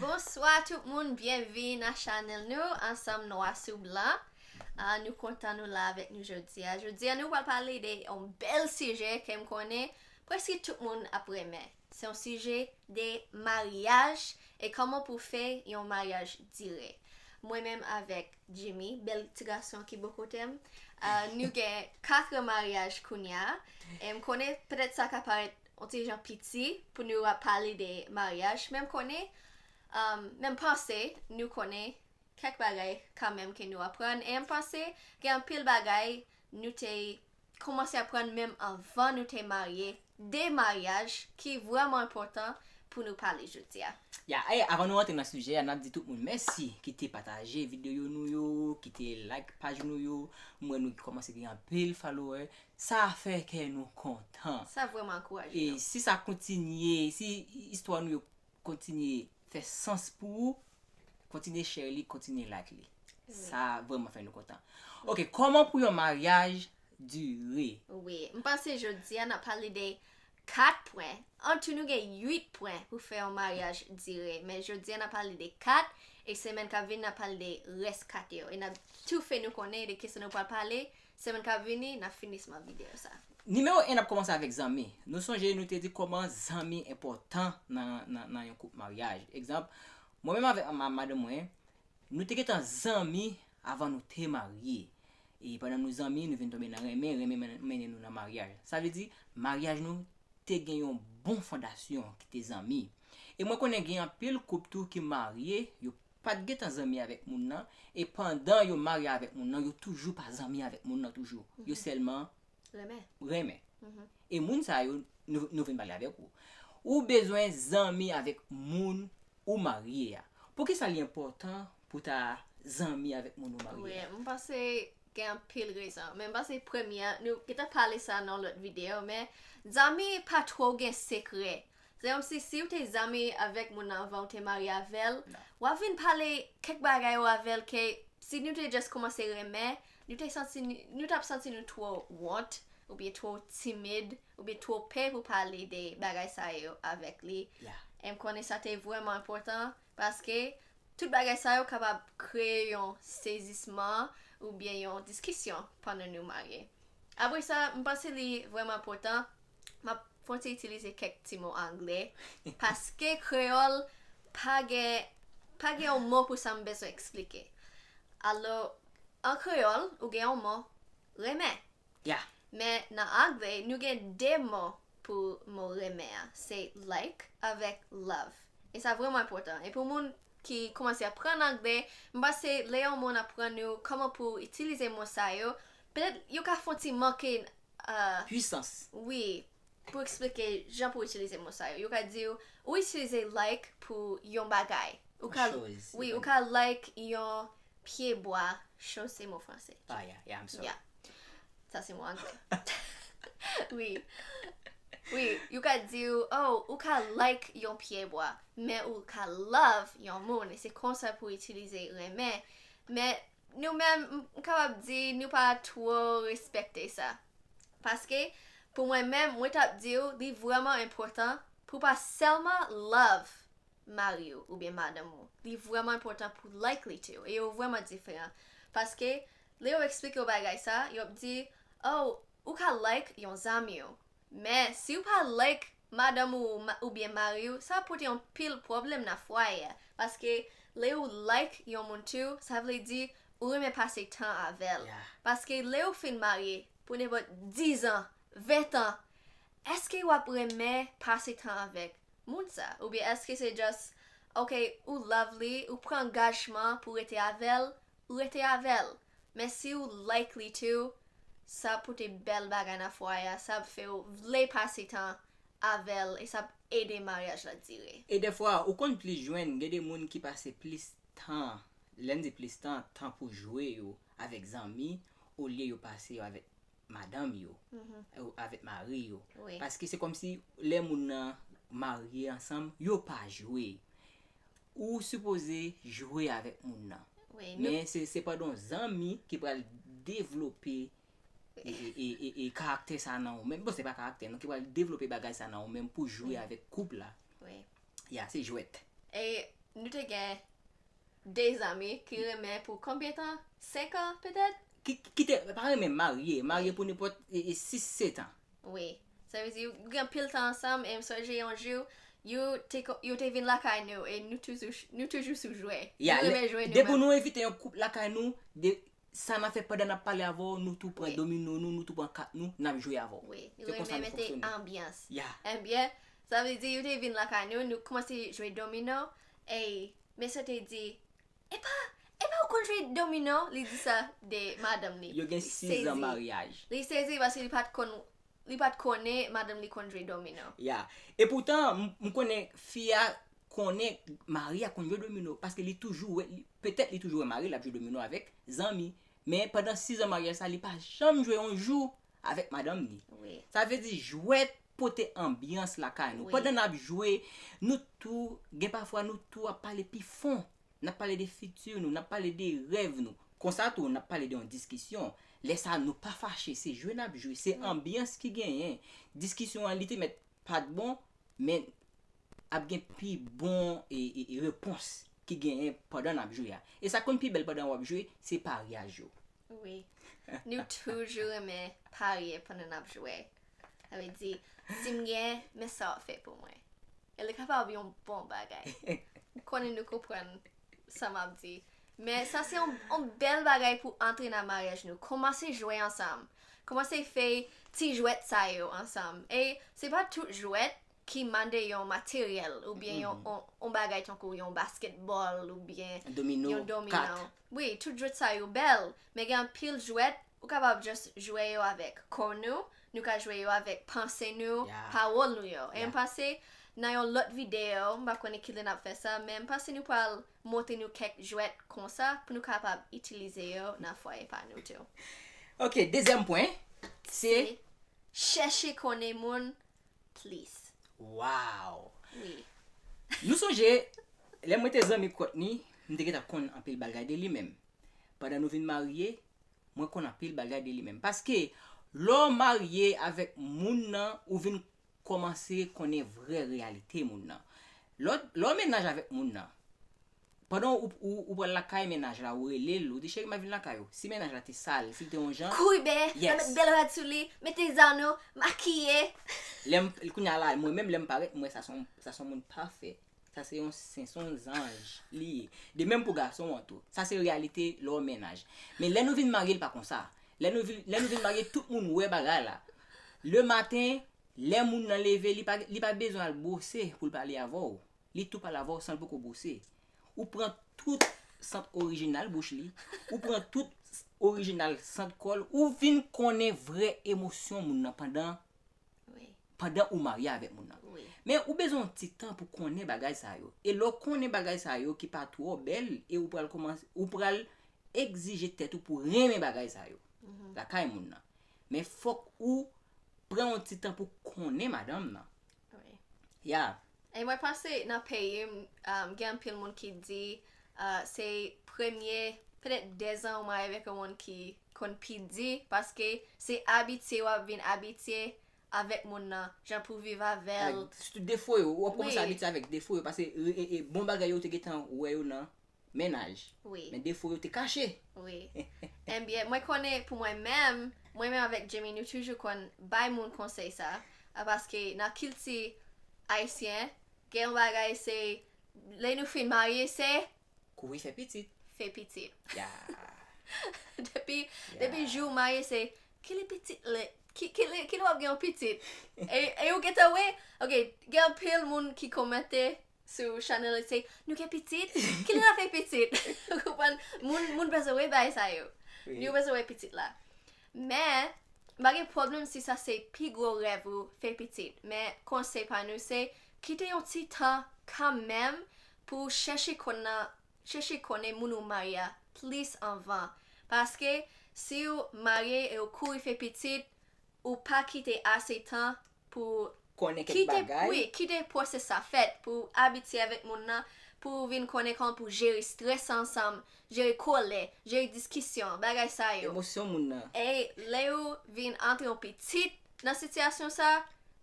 Bonswa tout moun byenvin a chanèl nou ansanm nwa sou blan nou kontan nou la avèk nou jodia jodia nou pral pale de yon bèl sijè kem konnen preske tout moun ap renmen se yon sijè de maryaj e kòman pou fè yon maryaj dire mwen menm avèk Jimmy bèl ti gason ki bo kotem nou gen 4 maryaj kounya em konnen petèt sa ka parèt On ti jan piti pou nou ap pale de maryaj men m konnen men m panse nou konnen kèk bagay kanmenm ke nou aprann e m panse gen anpil bagay nou te koumanse aprann menm anvan nou te marye de maryaj ki vrèman enpòtan pou nou pale jodi a. Ya e avan nou rantre nan sijè a n ap di tout moun mèsi ki te pataje videyo nou yo ki te like paj nou yo m wè nou kòmanse gen anpil followè Sa fè kè nou kontan. Sa vrèman ankouraje nou. Si sa kontinye, si istwa nou yo kontinye fè sans pou ou, kontinye share li, kontinye like li. Sa vrèman fè nou kontan. Ok, kòman pou yon maryaj dire? Wi, m panse jodi a n ap pale de 4 pwen. Antou nou gen 8 pwen pou fè yon maryaj dire. Men jodi a n ap pale de 4, e semèn k ap vini n ap pale de rès 4 yo. E n ap tou fè nou konnen de kisa nou pral pale, Semèn kap vini nap finisman video sa. Nimewo 1 ap kòmanse avèk zanmi. Nou sonje nou te di kòman zanmi enpòtan nan yon koup maryaj. Egzanp, mwen menm avèk madanm mwen, nou te gentan zanmi avan nou te marye. E pandan nou zanmi, nou vin tonbe nan renmen, renmen mennen nou nan maryaj. Sa vle di, maryaj nou te gen yon bon fondasyon ki te zanmi. E mwen konnen gen anpil koup tou ki marye, yo pat gentan zanmi avèk moun nan e pandan yo marye avèk moun nan yo toujou pa zanmi avèk moun nan toujou yo sèlman renmen e moun sa yo nou vin pale avèk ou ou bezwen zanmi avèk moun ou marye a poukisa li enpòtan pou ta zanmi avèk moun ou marye a. Wi m panse gen anpil rezon men m panse premye nou gentan pale sa nan lòt videyo men zanmi pa twò gen sekrè Frèm si siw te zanmi avèk moun nan avanw te marye avèl wap vin pale kèk bagay ou avèl ke si nou te just kòmanse renmen nou te santi nou tap santi nou twò wont oubyen twò timid oubyen twò pè pou pale de bagay sa yo avèk li e m konnen sa te vrèman enpòtan paske tout bagay sa yo kapab kreye yon sezisman oubyen yon diskisyon pandan nou marye apresa m panse li vrèman enpòtan M ap konte itilize kèk ti mo angle paske kreyòl pa gen pa gen yon mo pou sa m bezwen esplike. Alò, an kreyòl, ou gen yon mo, renmen. Ya. Men nan angle, nou gen de mo pou mo renmen an. Se like avèk love. E sa vrèman enpòtan. E pou moun ki koumanse aprann angle, m panse lè yon moun aprann ou kòman pou itilize mo sa yo, petèt yo ka fon ti manke Puisans. Wi, pou eksplike jan pou itilize mo sa yo. Yo ka di w, ou itilize like pou yon bagay. Ou ka, wi, ou ka like yon pye bwa. Chose se mo franse. Ah yeah, yeah, I'm sorry. Yeah. Sa se mo angle. Wi. Wi, yo ka di w, oh, ou ka like yon pye bwa. Men ou ka love yon moun. E se konsa pou itilize renmen. Men, Nou menm, m kapab di nou pa twò respekte sa. Paske, pou mwen menm, mwen t ap di w li vrèman enpòtan pou w pa sèlman love mari w oubyen madanm ou, li vrèman enpòtan pou w like li tou. E yo vrèman diferan. Paske, lè yo eksplike w bagay sa, yo ap di, oh, ou ka like yon zanmi w. Men si ou pa like madanm ou oubyen mariw sa ap pote yon pil pwoblm nan fwaye a paske le ou like yon moun too sa vle di ou renmen pase tan avèl paske le ou fin marye pou nenpot 10 ans 20 ans eske wap renmen pase tan avèk moun sa oubyen eske se just ok ou love li ou pran angajman pou rete avèl ou rete avèl Men siw like li too sa ap pote bèl bagay nan fwaye a sa ap few vle pase tan avèl e sa ap ede maryaj la dire. E dèfwa ou konn plis jwenn gen de moun ki pase plis tan lèm di plis tan tan pou jwe yo avèk zanmi olye yo pase yo avèk madanm yo avèk mari yo paske se kòmsi lè moun nan marye ansanm yo pa jwe Ou sipoze jwe avèk moun nan. Men se pa don zanmi ki pral devlope e karaktè sa nan ou menm. Bon se pa karaktè non ki pral devlope bagay sa nan ou menm pou jwe avèk koup la. Ya se jwèt. E nou te gen 2 zanmi ki renmen pou konbyen tan? 5 an petèt? Ki te pa renmen marye. Marye pou nenpòt 6, 7 an. Wi. Sa vle di ou gen anpil tan ansanm e m sonje yon jou yo te kon yo te vin lakay nou e nou toujou nou toujou sou jwe. Ya, Nou lè, renmen jwe nou depi menm. nou envite yon koup lakay nou, de, sa n ap fè pandan n ap pale avè w, nou tou pran Wi. domino nou, nou tou pran kat nou, n ap jwe avè w. Wi. Nou Se konsa renmen nou mete fonksyone. anbyans. Ya. Enbyen, sa vle di yo te vin lakay nou, nou kòmanse jwe domino e mesye te di, Epa, epa ou konn jwe domino, li di sa de madanm li. Yo gen 6 zan maryaj. Li sezi paske li pat konn, li pat konnen madanm li konn jwe domino. Ya, e poutan m konnen fi a konnen mari a konn jwe domino paske li toujou wè, petèt li toujou wè mari l ap jwe domino avèk zanmi, men pandan 6 zan maryaj sa li pa janm jwe yon jou avèk madanm ni. Sa vle di jwèt pote anbyans lakay nou. Pandan nap jwe, nou tou, gen pafwa nou tou ap pale pi fon. Nap pale de fiti nou, nap pale de rèv nou. Konsa tou nap pale de yon diskisyon. Lè sa nou pa fache, se jwe nap jwe, se anbyans ki genyen. Diskisyon an li te mèt pat bon, men ap gen pi bon repons ki genyen pandan nap jwe a. E sa konn pi bèl pandan wap jwe, se paryaj yo. Wi. Nou toujou renmen parye pandan n ap jwe. Sa vle di, si m gen, men sa w ap fè pou mwen. E li kapab yon bon bagay. M konnen nou konprann sa m ap di. Men sa se yon yon bèl bagay pou antre nan maryaj nou. Kòmanse jwe ansanm. Kòmanse fè ti jwèt sa yo ansanm. E se pa tout jwèt ki mande yon materyèl oubyen yon yon bagay tankou yon baskètbòl oubyen Domino, yon domino. kat. Wi tout jwet sa yo bèl men gen anpil jwèt ou kapab just jwe yo avèk kò nou, nou ka jwe yo avèk panse nou, pawòl nou yo e m panse nan yon lòt videyo m pa konnen kilè n ap fè sa men m panse nou pral montre nou kèk jwèt konsa pou nou kapab itilize yo nan fwaye pa nou tou. Ok dezyèm pwen se. Chèche konnen moun plis. Waww wi. Nou sonje lè mwen te zanmi Kòtni m te gentan konn anpil bagay de li men pandan nou vin marye mwen konn anpil bagay de li men paske lè w marye avèk moun nan ou vin kòmanse konnen vrè reyalite moun nan lè w mennaj avèk moun nan Pandan ou pral lakay mennaj la ou rele l ou di cheri map vin lakay ou. Si mennaj la te sal, si l te yon jan. Kouri bè, nan met bèl rad sou li, mete zan nou, makiye. Lè m, kounya la mwen menm lè m parèt m wè sa son, sa son moun pafè. Sa se yon sen, son yon zanj li ye. De menm pou gason an tou. Sa se reyalite lè w an mennaj. Men lè nou vin marye l pa konsa. Lè nou vin, lè nou vin marye tout moun wè bagay la. Le maten, lè moun nan leve li pa, li pa bezwen al bwose pou l pale avè w. Li tou pale avè w san l poko bwose. Ou pran tout sant orijinal bouch li, ou pran tout orijinal sant kò l, ou vin konnen vrè emosyon moun nan pandan pandan ou marye avèk moun nan. Men ou bezwen yon ti tan pou konnen bagay sa yo. E lè w konnen bagay sa yo ki pa twò bèl e ou pral kòmanse, ou pral egzije tèt ou pou w renmen bagay sa yo lakay moun nan. Men fòk ou pran yon ti tan pou konnen madanm nan. Wi. Yeah. E mwen panse nan peyi m, um, gen anpil moun ki di uh, se premye petèt 2 zan ou marye avèk yon moun ki konn pi di paske se abitye wap vin abitye avèk moun nan, jan pou viv avè l. Avèk sitou defo yo, wap kòmanse Wi. abitye avèk defo yo pase e, e bon bagay yo ou te gentan wè yo nan Mennaj. Wi. Men defo yo te kache. Wi. Enbyen, mwen konnen pou mwen menm, mwen menm avèk Djimi nou toujou konn bay moun konsèy sa a paske nan kilti ayisyen gen yon bagay se lè nou fin marye se Kouri fè pitit. fè pitit. Ya. Depi depi jou ou marye se kile pitit lè kile kile w ap gen yon pitit e e ou gentan wè ok gen anpil moun ki komante sou chanel li se nou gen pitit kil raf e pitit ou konprann moun moun bezwen wè bay sa yo oui. yo bezwen wè pitit la men pa gen pwoblèm si sa se pi gwo rèv ou fè pitit men konsey pa nou se kite yon ti tan kan menm pou chèche konn nan chèche konnen moun ou marye a plis anvan paske si ou marye e ou kouri fè pitit Ou pa kite ase tan pou ou. Konnen kèk bagay. Wi, kite pwosès sa fèt pou ou abitye avèk moun nan, pou ou vin konnen kòman pou jere strès ansanm, jere kolè, jere diskisyon, bagay sa yo. Emosyon moun nan. E lè ou vin antre yon pitit nan sitiyasyon sa,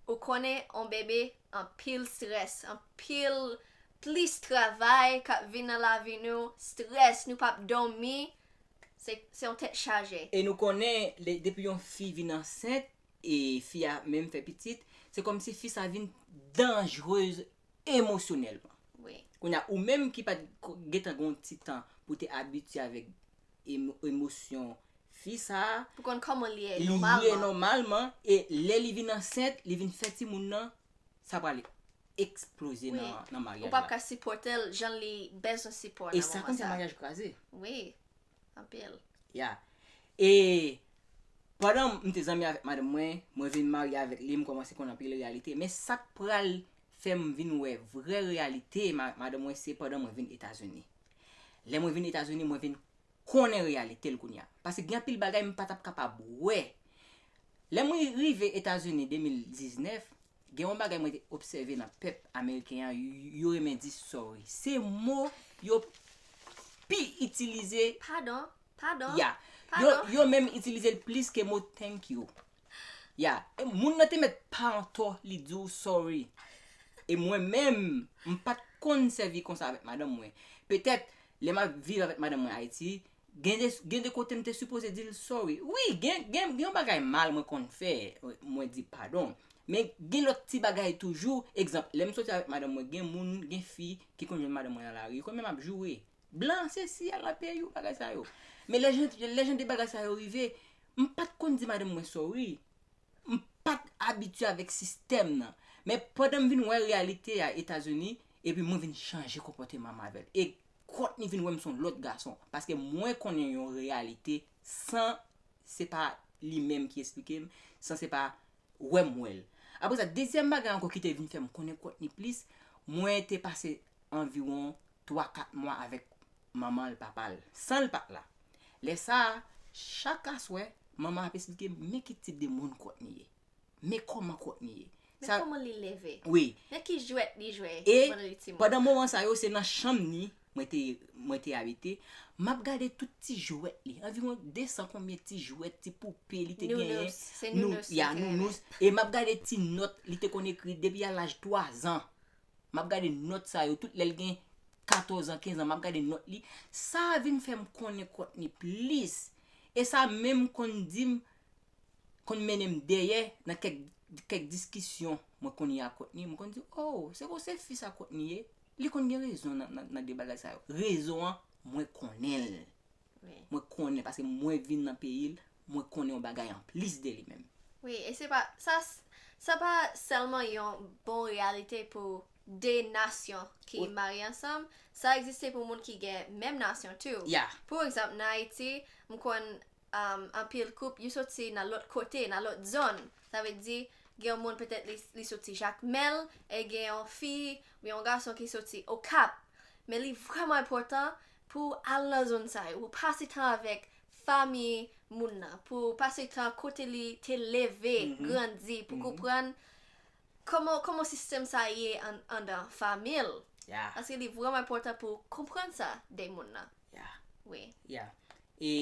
ou konnen yon bebe anpil strès, anpil plis travay k ap vin nan lavi nou, strès, nou p ap dòmi, se yon tèt chaje. E nou konnen lè depi yon fi vin ansent e fi a menm fè pitit se kòmsi fi sa vin danjreuse emosyonèlman. Wi. Kounye a ou menm ki pat gentan gen yon ti tan pou te abitye avèk emosyon fi sa. Pou konn kòman li ye nòmalman. Li ye nòmalman e lè li vin ansent li vin fè timoun nan sa pral eksploze nan maryaj la. Ou pap ka sipòtel jan li bezwen sipò nan moman sa. E sa konn fè maryaj kraze. Wi, anpil. Ya. E pandan m te zanmi avèk madanm mwen, mwen vin marye avèk li, m kòmanse konn anpil reyalite. Men sa k pral fè m vin wè vrè reyalite madanm mwen se pandan mwen vin Etazini. Lè mwen vin Etazini, mwen vin konnen reyalite l kounya paske gen anpil bagay m pa t ap kapab wè. Lè mwen rive Etazini 2019, gen yon bagay mwen te obsève nan pèp ameriken an, yo renmen di sorry. Se mo yo pi itilize. Padon, padon, padon. Ya, yo menm itilize l plis ke mo thank you. Ya e moun nan te mèt pa antò li di w sorry e mwen menm m pa t konn sèvi konsa avèk madanm mwen petèt lè m ap viv avèk madanm mwen Ayiti gen de gen de kote m te sipoze di l sorry wi gen gen yon bagay mal mwen konn fè mwen di padon men gen lòt ti bagay toujou egzanp lè m soti avèk madanm mwen gen moun gen fi ki konn jwenn madanm mwen nan lari yo konn wè m ap joure blan sesi a lan peyi w bagay sa yo men lè jan lè jan de bagay sa yo rive M pat konn di madanm mwen sorry. M pat abitye avèk sistèm nan. Men pandan m vin wè reyalite a Etazini, epi mwen vin chanje konpòteman m avè l. E Courtney vin wè m s on lòt gason. Paske mwen konnen yon reyalite san se pa li menm ki esplike m, san se pa wè m wè l. Apresa dezyèm bagay ankò ki te vin fè m konnen Courtney plis, mwen te pase anviwon twa kat mwa avèk manman l, papa l, san l pa t la. Lè sa a, chak aswè, manman an ap esplike m men ki tip de moun Courtney ye. Men kòman Courtney ye. Men kòman li leve. Wi. Men ki jwèt li jwe pandan li ti moun. E, pandan moman sa yo, se nan chanm ni mwen te abite, m ap gade tout ti jwèt li. Anviwon desan konbyen ti jwèt, ti poupe li te genyen. Nounous. Se nounous li te renmen. Ya, nounous. E m ap gade ti nòt li te konn ekri depi a laj twazan. Map gade nòt sa yo tout lèl gen 14 an 15 an map gade nòt li sa vin fèm konnen Kòtni plis e sa menm konn dim konn mennenm dèyè nan kèk kèk diskisyon mwen konn ye a Kòtni mwen konn di oo se konn se fi sa Kòtni ye li konn gen rezon nan nan de bagay sa yo rezon an mwen konnenl mwen konnen paske mwen vin nan peyi l mwen konnen yon bagay anplis de li menm. Wi e se pa sa sa pa sèlman yon bon reyalite pou 2 nasyon ki marye ansanm sa egziste pou moun ki gen menm nasyon tou pou egzanp nan Ayiti m konn anpil koup yo soti nan lòt kote nan lòt zòn sa vle di gen yon moun petèt li soti Jakmèl e gen yon fi oubyen yon gason ki soti Okap men li vrèman enpòtan Pou w al nan zòn sa yo, pou pase tan avèk fanmi moun nan, pou pase tan kote li te leve, grandi, pou konprann kòman kòman sistèm sa ye an andan fanmi l. Ya. Paske li vrèman enpòtan pou w konprann sa de moun nan. Ya. Wi. Ya. E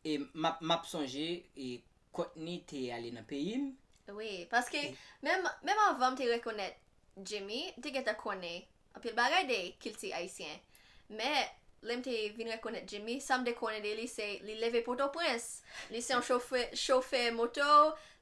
e m ap m ap sonje e Courtney te ale nan peyi m. Wi, paske menm menm anvan m te rekonèt Jimmy, m te gentan konnen Anpil bagay de kilti ayisyen. Men, lè m te vin rekonèt Jimmy, sa m te konnen de li se li leve Pòtoprens, li se yon chofè chofè moto,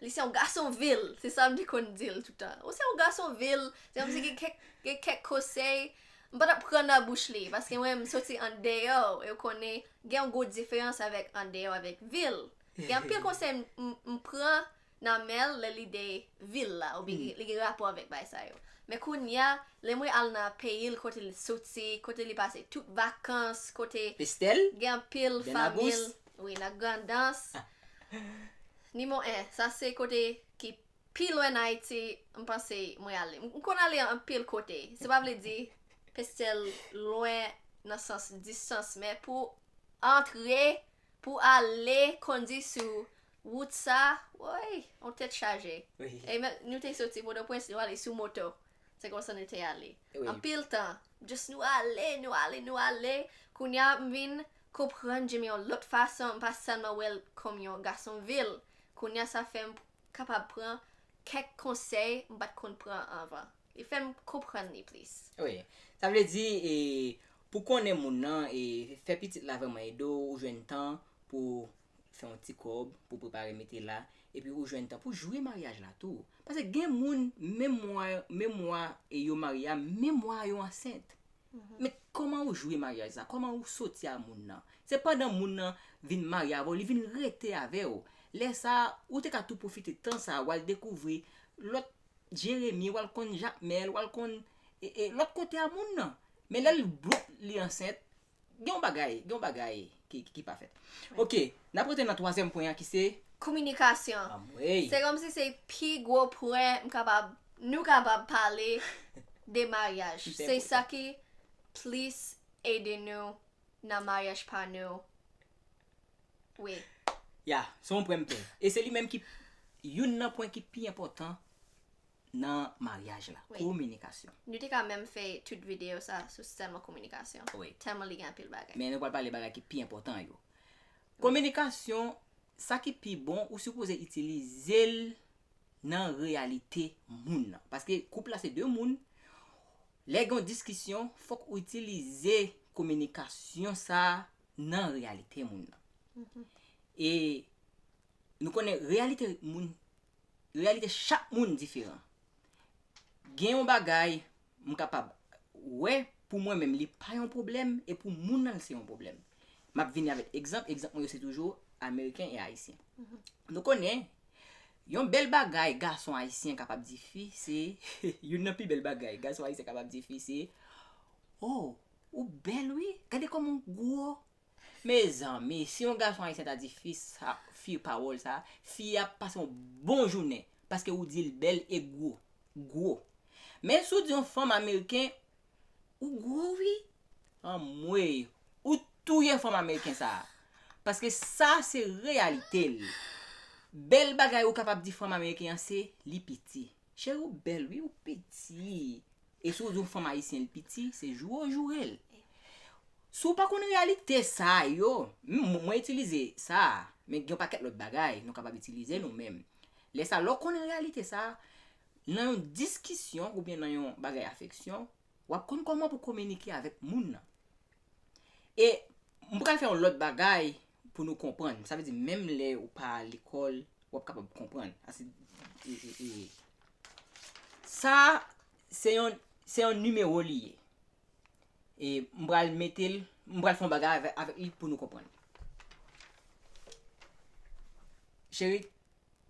li se yon gason vil, se sa m te konn di l toutan. Ou se yon gason vil, se kòm si gen kèk gen kèk kosèy m pa t ap pran nan bouch li paske mwen m soti andeyò e ou konnen gen yon gwo diferans avèk andeyò avèk vil. Gen anpil konsèy m m pran nan men l lè li de vil la oubyen li gen rapò avèk bagay sa yo. Men kounye a, lè mwen al nan peyi l kote l soti, kote li pase tout vakans, kote Estèl, gen anpil Bèn Agous. fanmi l, wi nan Grandans, Nimwo 1, sa se kote ki pi lwen nan Ayiti m panse mwen ale. M konn ale anpil kote, se pa vle di Pestèl lwen nan sans distans men pou antre Pou ale kondi sou wout sa, woy, yon tèt chaje. E men, nou te soti Pòtoprens, nou ale sou moto. Se konsa nou te ale. Anpil tan, just nou ale, nou ale, nou ale. Kounye a, m vin konprann Djimi yon lòt fason, m pa sèlman wè l kòm yon gason vil. Kounye a, sa fè m kapab pran kèk konsèy m pa t konn pran anvan. Li fè m konprann li plis. Wi. Sa vle di, Pou konnen moun nan e fè pitit la vrèman ede w ou jwenn tan pou w fè yon ti kòb pou w prepare mete la epi ou jwenn tan pou w jwi maryaj la tou paske gen moun menm mwa menm mwa e yo marye a menm mwa a yo ansent men kòman ou jwi maryaj sa kòman ou soti a moun nan se pandan moun nan vin marye avè w li vin rete avè w lè sa ou te ka tou pwofite tan sa wal dekouvri lòt jeremi wal konn jakmèl wal konn e e lòt kote a moun nan Men lèl bwop li ansent gen yon bagay, gen yon bagay ki pa fèt. Ok, nap rete nan twazyèm pwen an ki se. Kominikasyon. Anmweyy. Se kòmsi se pi gwo pwen m kapab, nou kapab pale de maryaj. Ki pi enpòtan. Se sa ki plis ede nou nan maryaj pa nou wi. Ya, se yon pwen m pè. E se li menm ki youn nan pwen ki pi enpòtan nan maryaj la. Kominikasyon. Nou te ka menm fè tut video sa sou sèlman kominikasyon. Tèlman li gen anpil bagay. Men nou pral pale bagay ki pi enpòtan yo. Kominikasyon, sa ki pi bon ou sipoze itilize l nan reyalite moun nan. Paske koup la se 2 moun, lè gen yon diskisyon fòk ou itilize kominikasyon sa nan reyalite moun nan. E Nou konnen reyalite moun, reyalite chak moun diferan. Gen yon bagay m kapab wè pou mwen menm li pa yon pwoblèm e pou moun nan l se yon pwoblèm. M ap vini avèk egzanp, egzanp mwen yo se toujou Ameriken e Ayisyen. Nou konnen, yon bèl bagay gason Ayisyen kapab di fi se, youn nan pi bèl bagay gason Ayisyen kapab di fi se, O, ou bèl wi, gade kòman w gwo! Mezanmi si yon gason ayisyen ta di fi sa fi pawòl sa fi a ap pase yon bon jounen paske ou di l bèl e gwo gwo men si w di yon fanm ameriken ou gwo wi anmweyy ou touye fanm ameriken sa paske sa se reyalite l bèl bagay ou kapab di fanm ameriken an se li piti. Cheri ou bèl wi ou piti e si ou di yon fanm ayisyen li piti se joure ou jourel si ou pa konn reyalite sa yo mwen itilize sa men gen yon pakèt lòt bagay nou kapab itilize nou menm lè sa lè ou konn reyalite sa nan yon diskisyon oubyen nan yon bagay afeksyon Wap konn koman pou kominike avèk moun nan. E m pral fè yon lòt bagay pou nou konprann. Sa vle di menm lè ou pa al lekòl, wap kapab konprann. Ase e e. Sa a se yon se yon nimewo li ye. E m pral mete l, m pral fè yon bagay avè avèk li pou nou konprann. Cheri,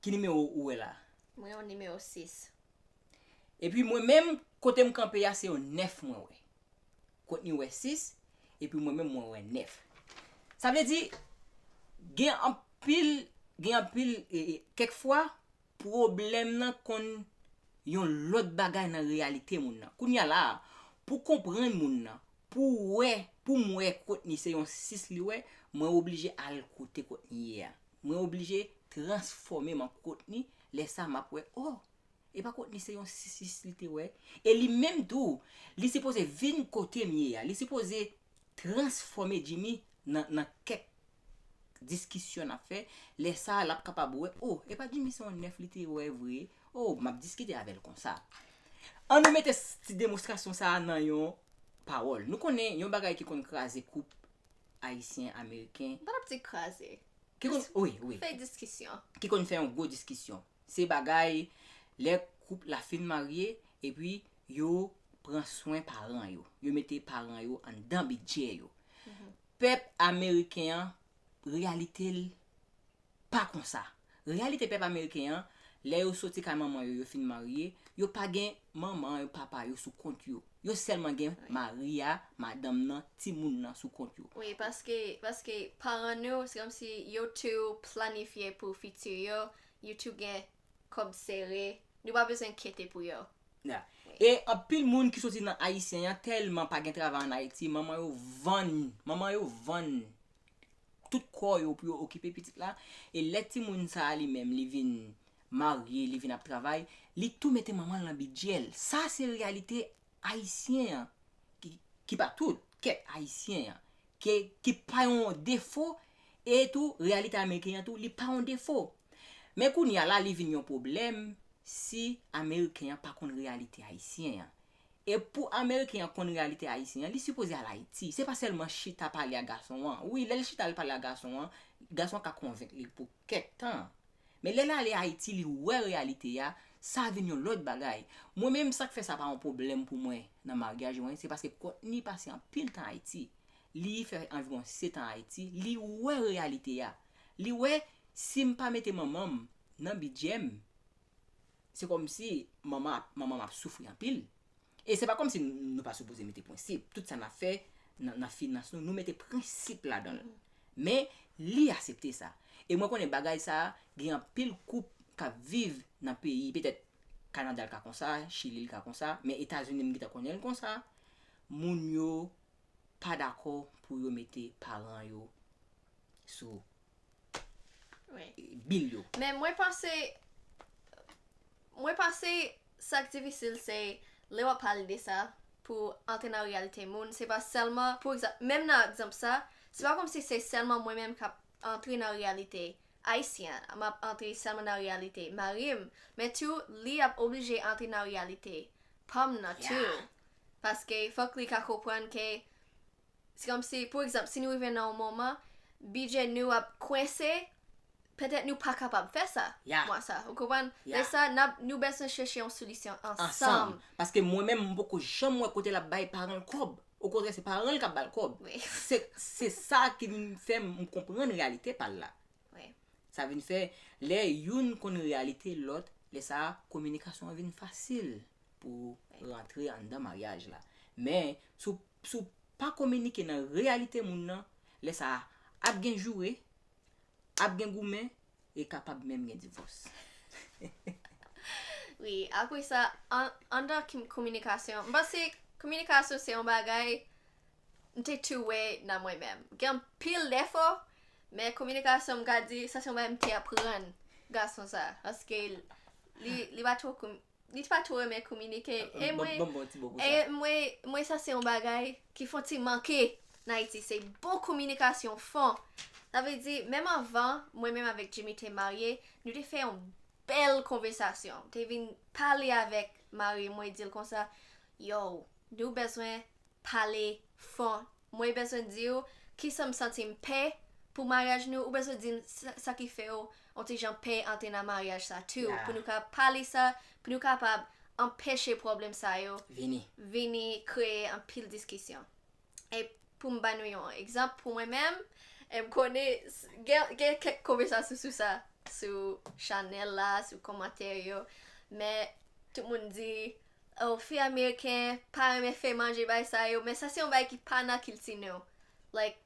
ki nimewo ou wè la a? Mwen wè nimewo 6. Epi mwen menm, kote m kanpe a, se yon nèf mwen wè. Courtney wè sis, epi mwen menm mwen wè nèf. Sa vle di, gen anpil, gen anpil, kèk fwa, pwoblèm nan konn yon lòt bagay nan reyalite moun nan. Kounye a la a, pou konprann moun nan, pou w wè, pou m wè Courtney se yon sis li wè, mwen oblije al kote Courtney ye a. Mwen oblije transfòme m an Courtney, lè sa a m ap wè, oh! E pa kont li se yon sisis li te wè. E li menm tou, li sipoze vin kote m ye a. Li sipoze transfòme Jimmy nan nan kèk diskisyon n ap fè. Lè sa a, l ap kapab wè, o, e pa Jimmy se yon nèf li te wè vre. O, m ap diskite avè l konsa. An nou mete ti demonstrasyon sa a nan yon pawòl. Nou konnen yon bagay ki konn kraze koup Ayisyen, Ameriken. M pa t ap di kraze. Ki konn, wi, wi. Fè diskisyon. Ki konn fè yon gwo diskisyon. Se bagay lè koup la fin marye epi yo pran swen paran yo. Yo mete paran yo anndan bidjè yo. Pèp ameriken an reyalite l pa konsa. Reyalite pèp ameriken an lè yo soti kay manman yo yo fin marye, yo pa gen manman yo, papa yo sou kont yo. Yo sèlman gen mari a, madanm nan, timoun nan sou kont yo. Wi paske paske paran nou se kòmsi yo tou planifye pou fiti yo YouTube gen kob sere Nou pa bezwen kyete pou yo. Yeah. E anpil moun ki soti nan ayisyen yan telman pa gen travay an ayiti manman yo vann manman yo vann tout kò yo pou yo okipe pitit la e lè timoun sa li menm li vin marye li vin ap travay li tou mete manman l nan bidjè l sa se reyalite Ayisyen an, ki pa tout, kèk Ayisyen an, ke, ki pa yon defo, e tou, reyalite Ameriken an tou, li pa yon defo. Men kounye a la li vin yon pwoblèm si Ameriken an pa konn reyalite Ayisyen an. E pou Ameriken an konn reyalite Ayisyen an, li sipoze al Ayiti. Se pa sèlman chita pale ak gason an. Wi, lè l chita l pale ak gason an, gason an ka konvenk li pou. kèk tan. Men lè l ale Ayiti li wè reyalite a, sa vin yon lòt bagay. Mwen menm sa k fè sa pa yon pwoblèm pou mwen nan maryaj mwen, se paske Courtney pase anpil tan Ayiti. Li fè anviwon setan Ayiti, li wè reyalite a. Li wè si m pa mete manman m nan bidjè m, Se kòmsi manman manmanm ap soufri anpil. E se pa kòmsi nou pa sipoze mete prensip. Tout sa n ap fè nan finans nou, nou mete prensip ladan l. Men, li asepte sa. E mwen konnen bagay sa a, gen anpil koup k ap viv nan peyi, petèt Kanada l ka konsa, Chili l ka konsa, men Etazini m gintan konnen l konsa, moun yo pa dakò pou yo mete paran yo sou Wi. Bil yo. Men mwen panse, mwen panse sa k difisil se lè w ap pale de sa pou antre nan reyalite moun, se pa sèlman, pou egzanp, menm nan egzanp sa, se pa kòmsi se sèlman mwen menm k ap antre nan reyalite ayisyen an, m ap antre sèlman nan reyalite mari m, men tou li ap oblije antre nan reyalite pa m nan tou. Ya. Paske fòk li ka konprann ke Se kòmsi, pou egzanp, si nou rive nan yon moman, bidjè nou ap kwense, petèt nou pa kapab fè sa Ya. mwa sa a. Ou konprann? Ya. Lè sa a, n ap, nou bezwen chèche yon solisyon ansanm. ansanm. Paske mwen menm, m poko janm wè kote l ap bay paran l kòb. Okontrè, se paran l k ap ba l kòb. Wi. Se, se sa ki vin fè m konprann reyalite pa l la. Wi. Sa vin fè, lè youn konn reyalite lòt, lè sa a, kominikasyon an vin fasil pou rantre anndan maryaj la. Men, si w Si w pa kominike nan reyalite moun nan, lè sa a ap gen joure, ap gen goumen e kapab menm gen divòs. Wi, apre sa, anndan kominikasyon, m panse kominikasyon se yon bagay m te tou wè nan mwen menm. Gen anpil defo, men kominikasyon m ka di sa se yon bagay m te aprann gason sa a paske li pa twò Li t pa two renmen kominike e mwen Banm bon ti bo pou e sa. mwen mwen sa se yon bagay ki fon ti manke n Ayiti se bon kominikasyon fon sa vle di menm anvan mwen menm avèk Jimmy te marye nou te fè yon bèl konvesasyon m te vin pale avèk mari m mwen di l konsa yow nou bezwen pale fò mwen bezwen diw kisan m santi m pè pou maryaj nou ou bezwen dim sa ki fèw on ti jan pè antre nan maryaj sa tu pou nou ka pale sa pou nou kapab anpeche pwoblèm sa yo vini vini kreye anpil diskisyon e pou m ba nou yon egzanp pou mwen menm e m konnen gen kèk konvèsasyon sou sa sou chanèl la sou komantè yo men tout moun di Oh fi ameriken pa renmen fè manje bay sa yo men sa se yon bagay ki pa nan kilti nou like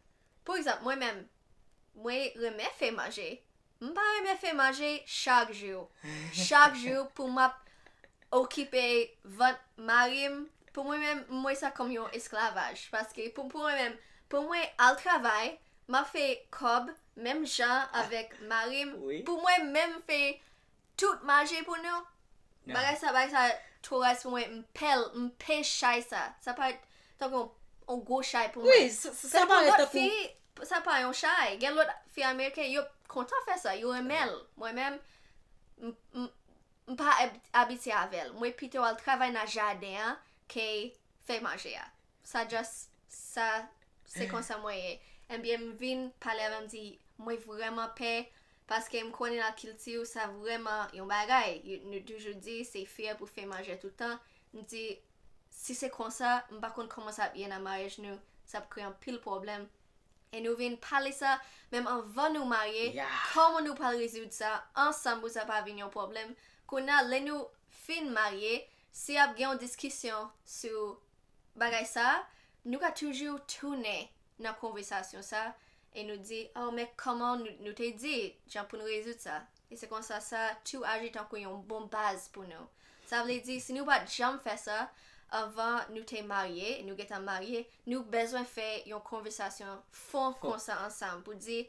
pou egzanp mwen menm mwen renmen fè manje m pa renmen fè manje chak jou chak jou pou map okipe vant marim pou mwen menm m wè sa kòm yon esklavaj paske pou mwen menm pou mwen al travay map fè kòb menm jan avèk marim pou mwen menm fè Tout maje pou nou. Bagay sa bagay sa two raz pou mwen. M pèl, m pè chay sa. Sa parèt tankou yon gwo chay pou mwen. Sa pou lòt fi, sa pa yon chay. Gen lòt fi ameriken yo kontan fè sa. Yo renmen l. Mwen menm, m pa abitye avè l. Mwen pito al travay nan jaden an ke fè maje a. Sa just sa se konsa mwen ye. Enbyen m vin pale avè m di mwen vrèman pè paske m konnen nan kilti ou sa vrèman yon bagay. Nou toujou di se fyè pou fè manjè tout tan. M di si se konsa m pa konn kòman sa ap ye nan maryaj nou. Sa ap kreye anpil pwoblèm. E nou vin pale sa menm anvan nou marye kòman nou pral rezoud sa ansanm pou sa pa vin yon pwoblèm. Kounye a lè nou fin marye si ap gen yon diskisyon sou bagay sa, nou ka toujou tounen nan konvesasyon sa e nou di, oh men kòman nou te di jan pou nou rezoud sa. E se konsa sa tou aji tankou yon bon baz pou nou. Sa vle di si nou pa t janm fè sa anvan nou te marye, nou gentan marye, nou bezwen fè yon konvesasyon fon konsa ansanm pou di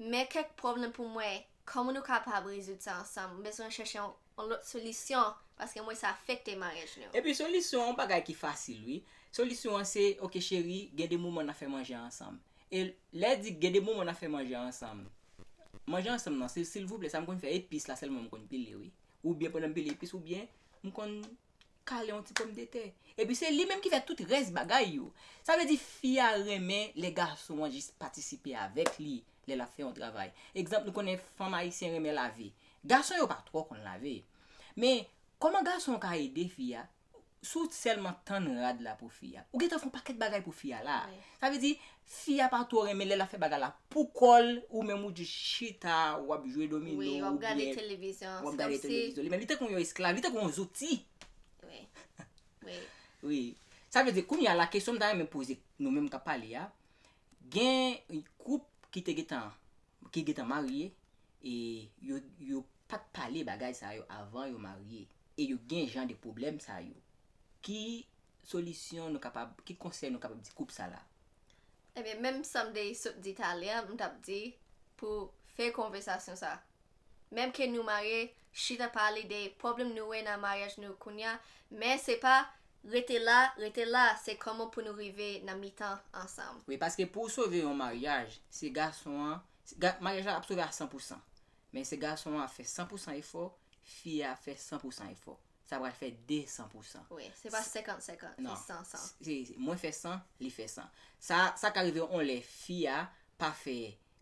men kèk pwoblèm pou mwen Kòman nou kapab rezoud sa ansanm? M bezwen chèche yon lòt solisyon paske m wè sa afekte maryaj nou. Epi solisyon an, bagay ki fasil wi. Solisyon an se, ok cheri, gen de moman n ap fè manje ansanm. E lè di gen de moman n ap fè manje ansanm, manje ansanm nan, silvouplè sa m konn fè epis la sèlman m konn pile wi. Oubyen pandan m pile epis oubyen m konn kale yon ti pomdetè epi se li menm ki fè tout rès bagay yo sa vle di fi a renmen lè gason an jis patisipe avèk li lè lap fè yon travay egzanp nou konnen fanm ayisyen renmen lave gason yo pa twò konn lave men kòman gason an ka ede fi a si w sèlman tann rad la pou fi a ou gentan fè yon pakèt bagay pou fi a la sa vle di Fi a pa two renmen lè lap fè bagay la pou kòl ou menm ou jus chita wap jwe domino ou byen wap gade televizyon wap gade televizyon li menm li tankou yon esklav li tankou yon zouti wi sa vle di kounye a la kesyon m ta renmen poze nou menm kap pale a gen koup ki te gentan ki gentan marye e yo pat pale bagay sa yo avan yo marye e yo gen jan de pwoblèm sa yo ki solisyon nou kapab, ki konsèy nou kapab di koup sa la? Ebyen menm sam te sot di talè an m tap di pou fè konvèsasyon sa menm ke nou marye chita pale de pwoblm nou wè nan maryaj nou kounya men se pa rete la rete la se kòman pou nou rive nan mitan ansanm. Wi paske pouw sove yon maryaj se gason an maryaj la ap sove a san pou san men se gason an ap fè san pou san efò fi a ap fè san pou san efò sa pral fè 2 san pou san. Wi, se pa 50 50, se 100 100. Non, mwen fè 100, li fè 100. Sa, sa ka rive on lè fi a pa fè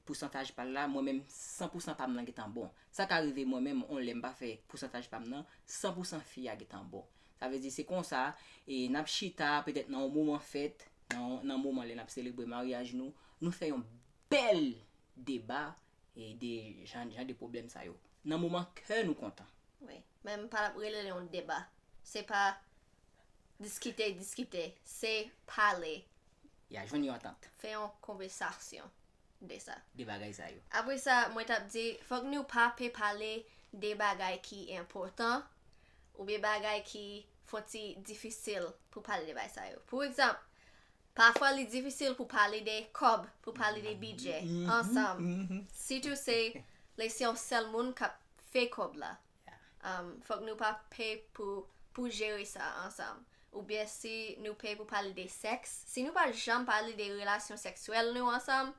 pousantaj pa l la, mwen menm 100 pou san pa m lan gentan bon. Sa ka rive mwen menm on lè m pa fè pousantaj pa m nan, 100 pou san fi a gentan bon. Sa vle di se konsa, e n ap chita petèt nan on moman fèt, nan on, nan moman lè n ap selebre maryaj nou, nou fè yon bèl deba e de jan, jan de pwoblèm sa yo. Nan moman kè nou kontan. Wi, men m pa tap rele l yon deba. Se pa diskite, diskite. Se pale. Ya jwenn yon antant. Fè yon konvesasyon de sa. De bagay sa yo. Apre sa, mwen tap di, fòk nou pa pe pale de bagay ki enpòtan, oubyen bagay ki fon ti difisil pou pale de bagay sa yo. Pou egzanp, pafwa li difisil pou pale de kòb, pou pale de bidjè, ansanm. Sitou se lè se yon sèl moun kap fè kòb la fòk nou pa pè pou jere sa ansanm oubyen si nou pè pou pale de sèks si nou pa janm pale de relasyon sèksyèl nou ansanm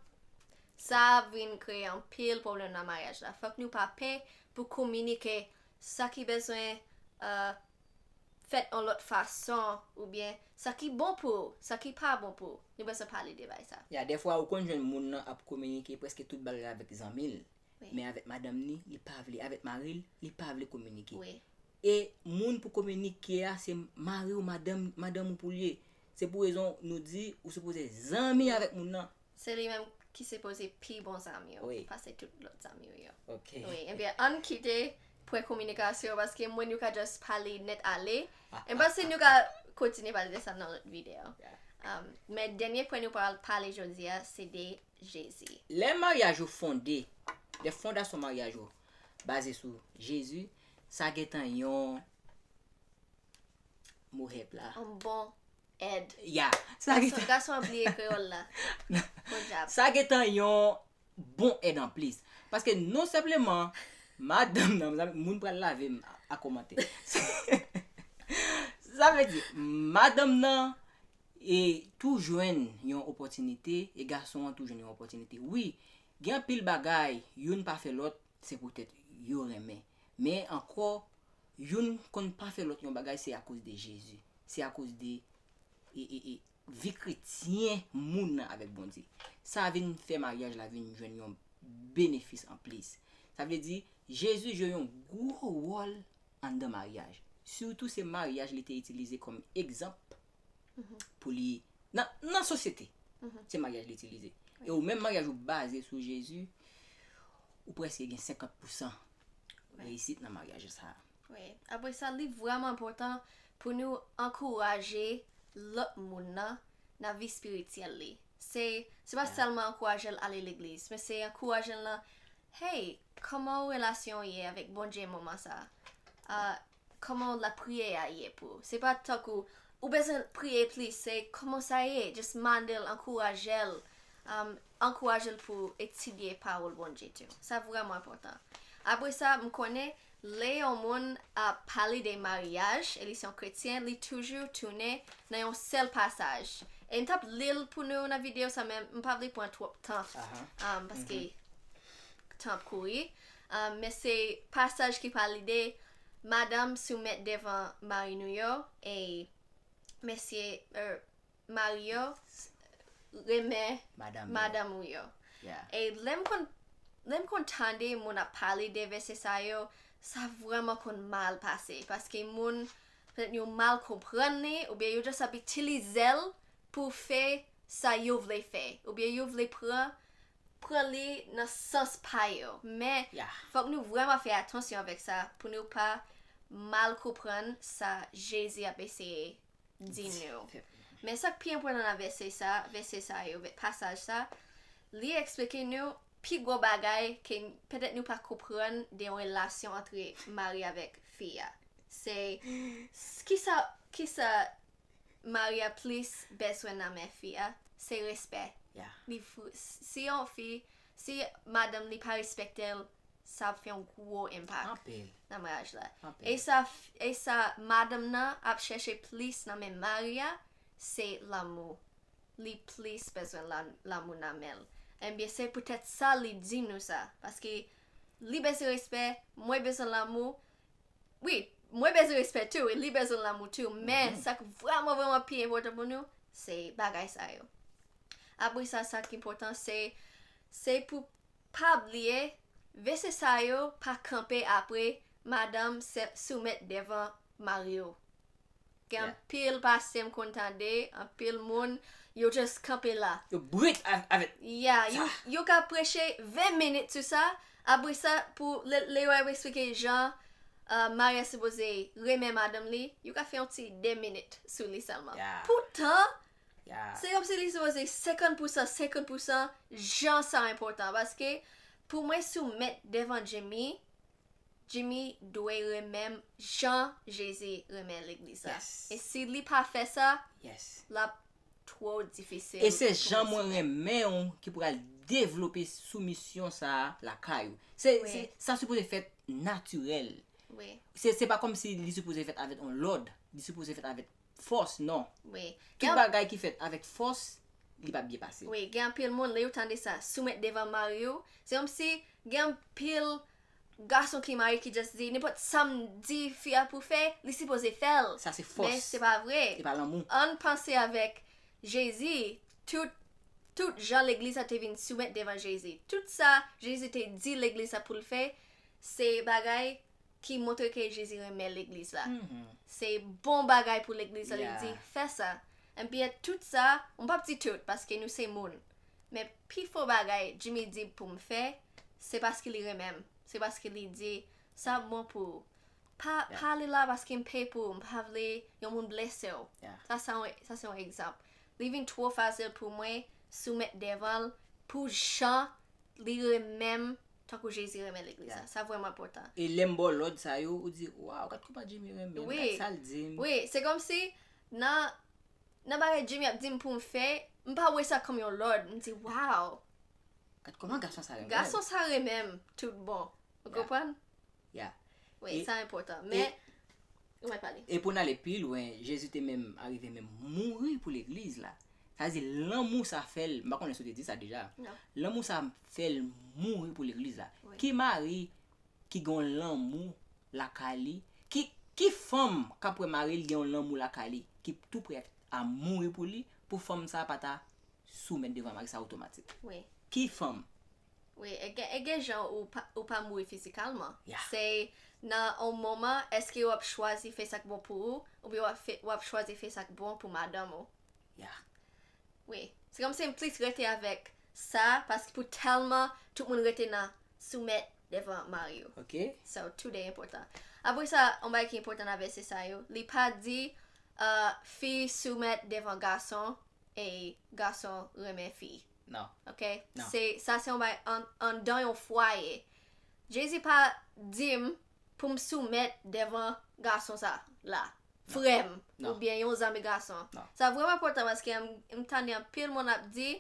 sa ap vin kreye anpil pwoblèm nan maryaj la fòk nou pa pè pou kominike sa ki bezwen euh, fèt an lòt fason oubyen sa ki bon pou ou sa ki pa bon pou ou nou bezwen pale de bagay sa. Ya dèfwa ou konn jwenn moun nan ap kominike prèske tout bagay avèk zanmi l men avèk madanm ni li pa vle avèk maril li pa vle kominike e moun pou kominike a se mari ou madanm madanm ou poul ye se pou rezon nou di ou sipoze zanmi avèk moun nan. Se li menm ki sipoze pi bon zanmi ou pase tout lòt zanmi ou yo wi ebyen ann kite pwen kominikasyon paske moun yo ka just pale nèt ale em panse nou ka kontinye pale de sa nan lòt videyo men dènye pwen nou pral pale jodia se de Jezi. Lè maryaj ou fonde, lè fondasyon maryaj ou baze sou Jezi, sa gentan yon mo hèp la. Yon bon èd. Ya. Gason, gason ap bliye kreyòl la. Podyab. Sa gentan yon bon èd anplis. Paske non senpleman, madanm nan, mezanmi, moun pral lave m a kòmantè. Sa vle di, madanm nan E tou jwenn yon opòtinite e gason an tou jwenn yon opòtinite. Wi, gen anpil bagay youn pa fè lòt se poutèt yo renmen. Men ankò, youn konn pa fè lòt yon bagay se akoz de Jezi. Se akoz de vi kretyen moun nan avèk Bondye. Sa vin fè maryaj la vin jwenn yon benefis anplis. Sa vle di, Jezi jwe yon gwo wòl anndan maryaj. Sitou se maryaj li te itilize kòm egzanp pou li nan sosyete. Se maryaj li itilize. E ou menm maryaj ou baze sou Jezi, ou prèske gen 50 pousan reyisit nan maryaj ou sa a. Wi. Apre sa, li vrèman enpòtan pou nou ankouraje lòt moun nan nan vi espirityèl li. Se pa sèlman ankouraje l ale legliz, men se ankouraje l nan Hey kòmanw relasyonw ye avèk Bondye moman sa ahh kòmanw lapriyè a ye pou ou se pa tankou ou bezwen priye plis se kòmanw sa ye just mandel ankourajel ahh ankourajel pou etidye pawòl Bondye tu sa vrèman enpòtan apresa mkonnen Lè yon moun ap pale de maryaj e li se yon kretyen li toujou tounen nan yon sèl pasaj e m t ap li l pou nou nan videyo sa men m pa vle pran twòp tan paske tan ap kouri men se pasaj ki pale de madanm soumèt devan mari nou yo e mesye Mari yo renmen madanm ou yo. E lè m konn tande moun ap pale de vèsè sa yo, sa vrèman konn mal pase. Paske moun, petèt yo mal konprann li, oubyen yo jis ap itilize l pou fè sa yo vle fè. Oubyen yo vle pran li nan sans pa yo. Men, fòk nou vrèman fè atansyon avèk sa pou nou pa mal konprann sa Jezi ap eseye di nou. Men sa k pi enpòtan nan vèsè sa, vèsè sa yo, pasaj sa, li eksplike nou pi gwo bagay ke petèt nou pa konprann de yon relasyon antre mari avèk fi a. Se kisa kisa mari a plis bezwen nan men fi a, se respè. Li si yon fi, si madanm li pa respekte l, sa ap fè yon gwo enpak Anpil. nan maryaj la. Anpil. E sa, f- e sa madanm nan ap chèche plis nan men mari a, se lanmou. Li plis bezwen la, lanmou nan men l. Ebyen se poutèt sa li di nou sa. Paske li bezwen respè, mwen bezwen lanmou. Wi, mwen bezwen respè tou, e li bezwen lanmou tou. Men, sa k vrèman vrèman pi enpòtan pou nou, se bagay sa yo. Apre sa, sa k enpòtan se, se pou Pa bliye, vese sa yo pa kanpe apre madanm se soumèt devan mari yo. Gen Yeah. anpil pase m konn tande, anpil moun, yo just kanpe la. Yo brut av- avèk Yeah, sa. yo, yo ka preche 20 minit sou sa, apre sa pou le, le yo ap esplike jan uh, mari a sipoze renmen madanm li, yo ka fè yon ti 2 minit sou li sèlman. Yeah. Poutan, Se kòmsi li sipoze 50 pousan 50 pousan jan sa enpòtan paske pou mwen soumèt devan Jimmy Jimmy dwe renmenm jan Jezi renmen legliz la e si li pa fè sa l ap twò difisil e se jan mwen renmen ou ki pral devlope soumisyon sa lakay ou sa sipoze fèt natirèl se pa kòmsi li sipoze fèt avèk yon lòd li sipoze fèt avèk fòs non. Wi. Tout bagay ki fèt avèk fòs li pap byen pase. Wi gen anpil moun lè yo tande sa soumèt devan mariw se kòmsi gen anpil gason ki marye ki just di nenpòt sam di fi a pou fè li sipoze fèl Sa se fòs. men se pa vre Se pa lanmou. ann panse avèk Jezi tout tout jan legliz sa te vin soumèt devan Jezi tout sa Jezi te di legliz sa poul fè se bagay ki montre ke Jezi renmen legliz la. Se bon bagay pou legliz la, li di, fè sa. Enbyen, tout sa, m p ap di tout, paske nou se moun. Men pi fò bagay Jimmy di pou m fè, se paske li renmen m. Se paske li di, sa ap bon pou ou. Pa ale la paske m pè pou ou, m pa vle yon moun blese w. Sa se yon egzanp. Li vin twò fasil pou mwen soumèt devan l pou jan li renmen m Tankou Jezi renmen legliz la. Sa vrèman enpòtan. E lè m ba w lòd sa yo, ou di, Waw, gad kouman Jimmy renmen m. Gad sa l di m. Wi. Se kòmsi nan nan bagay Jimmy ap di m pou m fè, m pa wè sa kòm yon lòd. M di, Waw! Gad kouman gason sa renmen m. Gason sa renmen m tout bon. Ou konprann? Yeah. Wi, E- sa enpòtan. Men, wè pale. E pou n ale pi lwen, Jezi te menm arive menm mouri pou legliz la. Sa vle di lanmou sa fè l, m pa konnen si w te di sa deja. Non. Lanmou sa fè l mouri pou legliz la. Wi. Ki mari ki gen yon lanmou lakay li, ki ki fanm k ap wè mari l gen yon lanmou lakay li ki tou prè a mouri pou li pou fanm sa pa ta soumèt devan mari sa otomatik? Wi. Ki fanm? Wi e gen jan ou pa mouri fizikalman se nan on moman eske wap chwazi fè sak bon pou ou oubyen wap chwazi fè sak bon pou madanm ou wi se kòm si m plis rete avèk sa paske pou tèlman tout moun rete nan soumèt devan mari yo so tou de enpòtan apre sa on bagay ki enpòtan nan vèsè sa yo li pa di fi soumèt devan gason e gason renmen fi. Non. Ok? Non. Se, sa se yon bay an, anndan yon fwaye. Jezi pa di m pou m soumèt devan gason sa la. Frè m. Non. Oubyen yon zanmi gason. Non. Sa vrèman enpòtan paske m, m tande anpil moun ap di.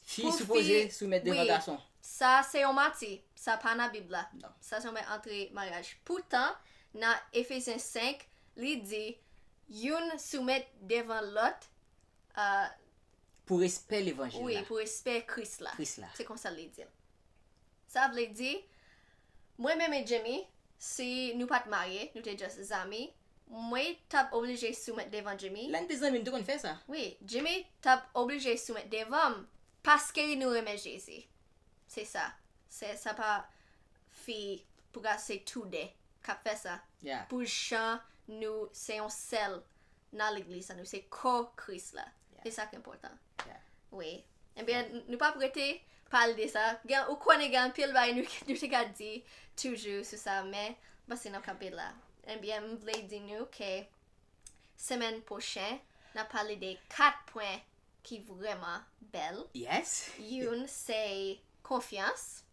Fi Pou fi- sipoze soumèt devan wi. gason. Sa se yon manti. Sa pa nan Bib la. Non. Sa se yon bay antre maryaj. Poutan, nan Efesyen 5, li di, youn soumèt devan lòt Ah. Pou respè levanjil la. Wi, pou respè Kris la. Kris la. Se konsa li di l. Sa vle di, mwen menm e Jimmy, si nou pa t marye, nou te just zanmi, mwen t ap oblije soumèt devan Jimmy. Lè n te zanmi, nou te konn fè sa. Wi, Jimmy t ap oblije soumèt devan m paske nou renmen Jezi. Se sa. Se sa pa fi pou gason se tou de k ap fè sa. Ya. Pou jan nou se yon sèl nan legliz sa nou se kò kris la e sak enpòtan wi ebyen nou pap rete pale de sa gen ou konnen gen anpil bay nou nou te ka di toujou sou sa men pase nan kanpe la ebyen m vle di nou ke semèn pwochen nap pale de 4 pwen ki vrèman bèl youn se konfyans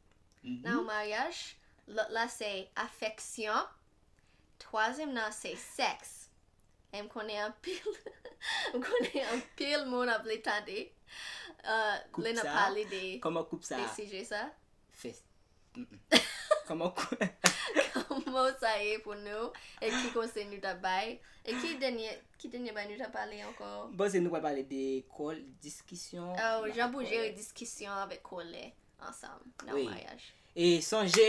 nan yon maryaj lòt la se afèksyon Twazyèm nan se sèks. E m konnen anpil M konnen anpil moun ap vle tande lè n ap pale de sijè sa. Koup sa a. Kòman sa ye pou nou e ki konsèy nou ta bay? E ki dènye bagay nou ta pale ankò? M panse nou pral pale de kòl, diskisyon. Jan pou jere diskisyon avèk kòlè. ansanm nan yon maryaj. E sonje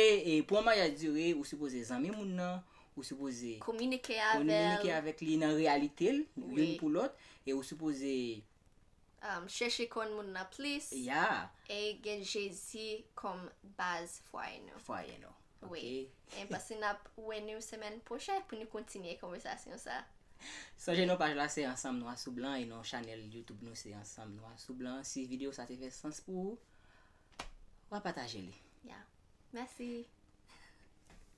pou yon maryaj dire ou sipoze zanmi moun nan, ou sipoze kominike avèk li nan reyalite l youn pou lòt e ou sipoze chèche konn moun nan plis e gen Jezi kòm baz fwaye nou. Fwaye nou. Wi. E pase n ap wè nou semèn pwochen pou nou kontinye konvèsasyon sa. Sonje non paj la se ansanm nwa sou blan e non chanèl youtube nou se ansanm nwa sou blan. Si videyo sa te fè sans pou ou. Wa pataje li. Yeah. Mèsi.